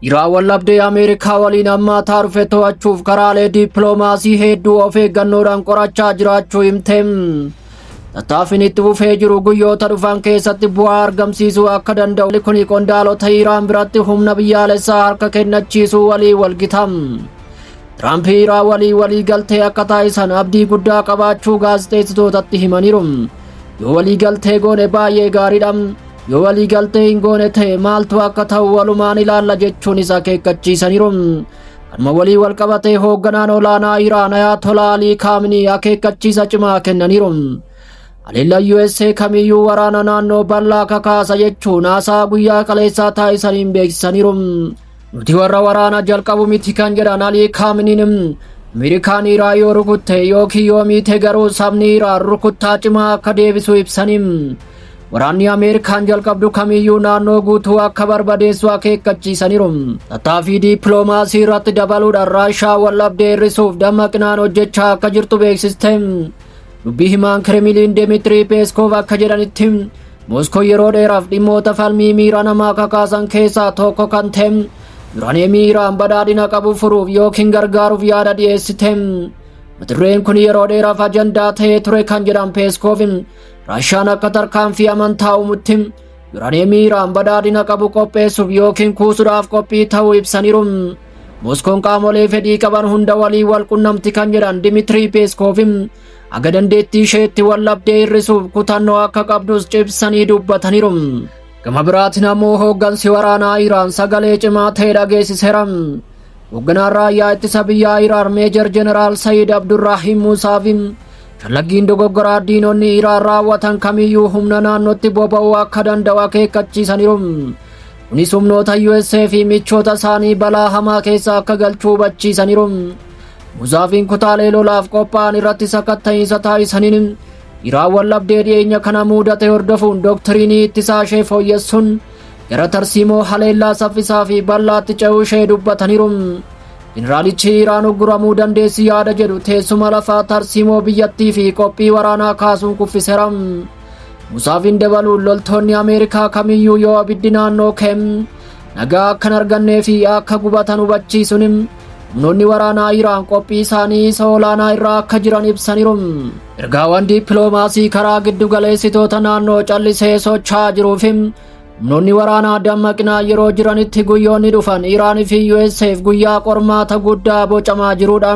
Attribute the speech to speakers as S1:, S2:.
S1: Iraan wallabdee Ameerikaa waliin hammaataa dhufe to'achuuf karaalee dippiloomaasii hedduu of eeggannoodhaan qorachaa jiraachuu himte. Tattaaffiin itti fufee jiru guyyoota dhufan keessatti bu'aa argamsiisuu akka danda'u kuni qondaalota Iraan biratti humna biyyaalessaa harka kennachiisuu walii walgita. Tiraamp Iraan walii walii galtee akka taasisan abdii guddaa qabaachuu gaazexeessitootatti himaniiru. Yoo walii galtee goone baay'ee gaariidha. Yoo walii galtee hin goone ta'e maaltu akka ta'u walumaan ilaalla jechuunis akeekkachiisaniiru. Kanuma walii wal qabatee hoogganaan olaanaa Iraan Ayaatolaa Alii Kaaminii akeekkachiisa cimaa kennaniiru. Haleellaan USA kamiyyuu waraana naannoo bal'aa kakaasa jechuun haasaa guyyaa kaleessaa taasisaniin beeksisaniiru. Nuti warra waraana jalqabu miti kan jedhan Alii Kaaminiin Ameerikaan Iraa yoo rukutte yookiin yoo miite garuu sabni Iraa rukuttaa cimaa akka deebisu ibsanii waraanni Ameerikaan jalqabdu kamiyyuu naannoo guutuu akka barbadeessu akeekkachiisaniiru. Tattaaffii diippiloomaasii irratti dabaluudhaan Raashaa waldhabdee hir'isuuf dammaqinaan hojjechaa akka jirtu beeksiste. Dubbii himaan Kiremiliin Demitrii Peeskov akka jedhanitti Mooskoon yeroo dheeraaf dhimmoota falmii miira namaa kakaasan keessaa tokko kan ta'e yuraaniyeemii Iraan badhaadhina qabu furuuf yookiin gargaaruuf yaada dhiyeessite. Mata dureen kun yeroo dheeraaf ajandaa ta'ee ture kan jedhan Peeskoof Raashaan akka tarkaanfii amantaa uumutti yuraaniyeemii Iraan badhaadhina qabu qopheessuuf yookiin kuusuudhaaf qophii ta'uu ibsaniiru. Mooskoon qaamolee fedhii qaban hunda waliin wal qunnamti kan jedhan Dimitrii Peeskoof Haga dandeettii isheetti waldhabdee hir'isuuf kutannoo akka qabdus cimsanii dubbataniiru. Gama biraatiin ammoo hooggansi waraanaa Iraan sagalee cimaa ta'e dhageessiseera. Hoogganaan raayyaa ittisa biyyaa Iraan Meejar Jeneraal Sayid Abdurraahiim Muusaa fi shallaggiin dogoggoraa diinonni Iraan raawwatan kamiyyuu humna naannootti boba'uu akka danda'u akeekkachiisaniiru. Kunis humnoota USA fi michoota isaanii balaa hamaa keessa akka galchu hubachiisaniiru. Muzaafiin kutaalee lolaaf qophaa'an irratti sakatta'iinsa taasisaniin dhiraa wallabdee dhiyeenya kana muudate hordofuun doktiriinii ittisaa ishee fooyyessuun gara tarsiimoo haleellaa saffisaa fi bal'aatti ce'uu ishee dubbataniiru. Jeneraalichi Iraan ugguramuu dandeessi yaada jedhu teessuma lafaa tarsiimoo biyyattii fi qophii waraanaa kaasuun kuffiseera. Musaafiin dabaluun loltoonni Ameerikaa kamiyyuu yoo abiddi naannoo keem nagaa akkan argannee fi akka gubatan hubachiisuun Humnoonni waraanaa Iraan qophii isaanii isa olaanaa irraa akka jiran ibsaniiru. Ergaawwan dippiloomaasii karaa giddu galeessitoota naannoo callisee socho'aa jiruu fi humnoonni waraanaa dammaqinaa yeroo jiranitti guyyoonni dhufan Iraan fi USAf guyyaa qormaata guddaa bocamaa jirudha.